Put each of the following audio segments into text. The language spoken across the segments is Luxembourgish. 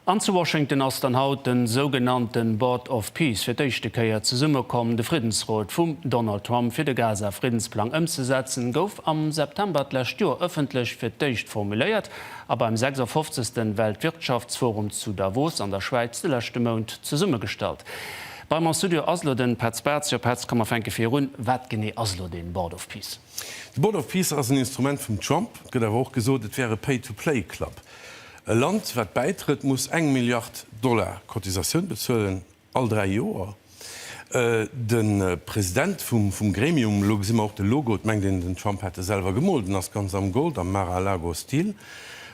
An zu Washington ass dann haut de sougenannte Board of Peace fir d'éischte Kéier zesummekomm. De Friddensrot vum Donald Trump fir de Gaza-Friddensplang ëmzesetzen, gouf am September d'lescht Joer ëffentlech fir d'éischt formuléiert a beim 56. Weltwirtschaftsforum zu Davos an der Schwäiz de leschte Mount zesummegestallt. Bei mer am Studio ass elo de Petz Bartz. Jo Petz, komm mer fänke vir un, wat genee ass elo dee Board of Peace? De Board of Peace ass en Instrument vum Trump, et gëtt awer och gesot, et wär e Pay-to-play-Club. E Land, wat bäitrëtt, muss eng Milliard Dollar Cotisatioun bezuelen, all dräi Joer. De President vum Gremium, elo gesi mer och de Logo, et mengt een, den Trump hätt e selwer gemoolt, en ass ganz am Gold, am Mar-a-Lago-Stil,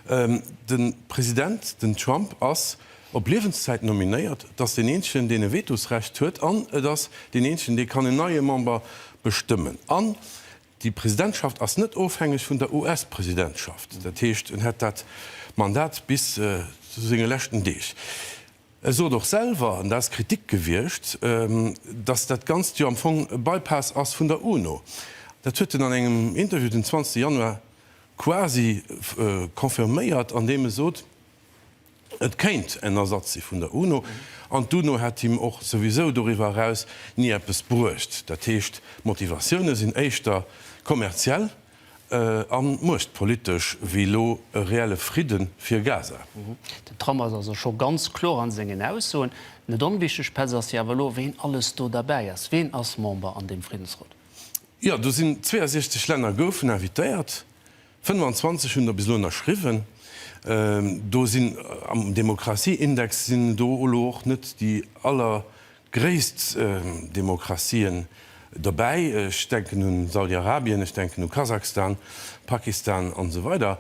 de President, den Trump, ass op Liewenszäit nominéiert, et ass deen eenzegen, deen e Vetosrecht huet an et ass deen eenzegen, dee kann en neie Member bestëmmen. An Déi Presidentschaft ass net ofhängeg vun der US-Presidentschaft. Dat heescht, en hätt dat Mandat bis zu senge leschten Deeg. E sot och selwer, an dat ass Kritik gewiescht, datt dat Ganzt jo am Fong e Bypass ass vun der UNO. Dat huet en an engem Interview den 20 Januar quasi confirméiert, andeem e sot, Et kéint en Ersatz si vun der UNO, an d'UNO hätt him och souwisou doriwwer eraus ni eppes bruecht. Dat heescht, d'Motivatioune sinn éischter kommerziell a muechtpolitesch wéi elo e reelle Fridde fir Gaza. Den Trump ass also scho ganz kloer a sengen Aussoen. Net onwichteg, Pes, ass jo awer elo, ween alles do derbäi ass. Ween ass Member an deem Friddensrot? Jo, do sinn 62 Länner goufen invitéiert. 25 hunn der bis elo ënnerschriwwen. Do sinn am Demokratieindex sinn do elo och net déi allergréisst Demokratien dobäi. Ech denken un Saudiarabien, ech denken u Kasachstan, Pakistan an esou weider.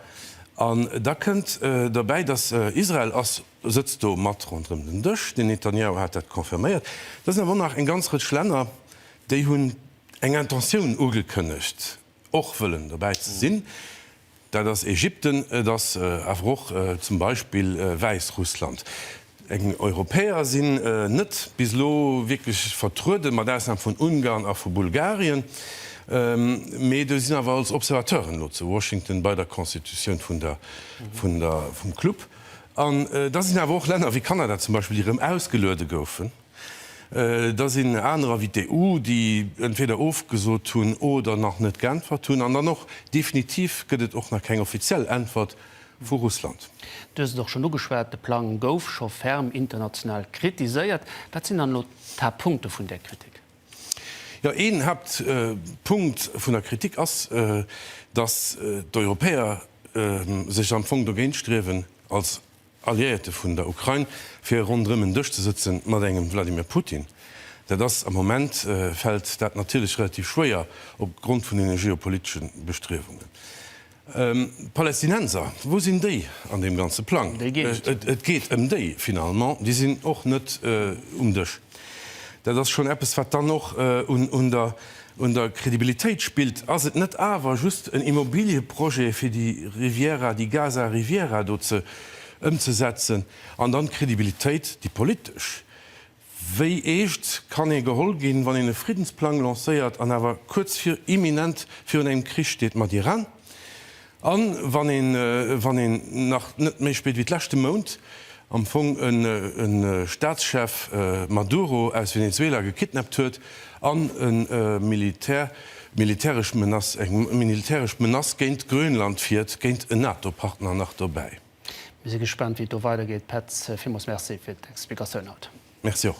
An da kënnt dobäi, datt Israel ass, sëtzt do mat ronderëm den Dësch, den Netanjahu hat dat confirméiert. Da sinn awer och nach eng ganz Rëtsch Länner, déi hunn eng Intentioun ugekënnegt, och wëllen dobäi ze sinn, dat ass Ägypten, et ass awer och zum Beispill Wäissrussland. Eng Europäer sinn net bis elo wierklech vertrueden, mat Ausnam vun Ungarn a vu Bulgarien, mee do sinn awer als Observateuren elo zu Washington bei der Constitutioun vun der, vun der, vum Club. An da sinn awer och Länner wéi Kanada zum Beispill, déi erëm ausgeluede goufen. Da sinn aner Invité u, déi entweder ofgesot hunn oder nach net geäntwert hunn. An dann och definitiv gëtt et och nach keng offiziell Äntwert vu Russland. Du hues et och schonn ugeschwat, de Plang gouf scho ferm international kritiséiert. Wat sinn dann elo d'Haaptpunkte vun där Kritik? Jo, een Haaptpunkt vun der Kritik ass, datt d'Europäer sech am Fong dogéint striewen, als Alliéierte vun der Ukrain, fir ronderëm en Dësch ze sëtzen mat engem Vladimir Putin. Dat ass am Moment, fält dat natierlech relativ schwéier op Grond vun den geopolitesche Bestriewungen. D'Palästinenser, wou sinn déi an deem ganze Plang? Et geet ëm déi finalement, déi sinn och net um Dësch. Dat ass schonn eppes, wat dann och un der Un der Credibilitéit spillt. Ass et net awer just en Immobilieprojet fir déi Riviera di Gaza Riviera do ze ëmzesetzen? An dann d'Credibilitéit, déi politesch. Wéi eescht kann ee geholl ginn, wann een e Friddensplang lancéiert an awer kuerz vir, imminent virun engem Krich steet mat Iran? A wann een nach net méi spillt wéi d'leschte Mount am Fong e Staatschef Maduro aus Venezuela gekidnappt huet an e militäresch Menace, eng militäresch Menace géint Grönland fiert, géint en NATO-Partner nach dobäi. Mir si gespaant wéi et do weidergeet. Petz, villmools Merci fir d'Explikatioun haut. Merci och.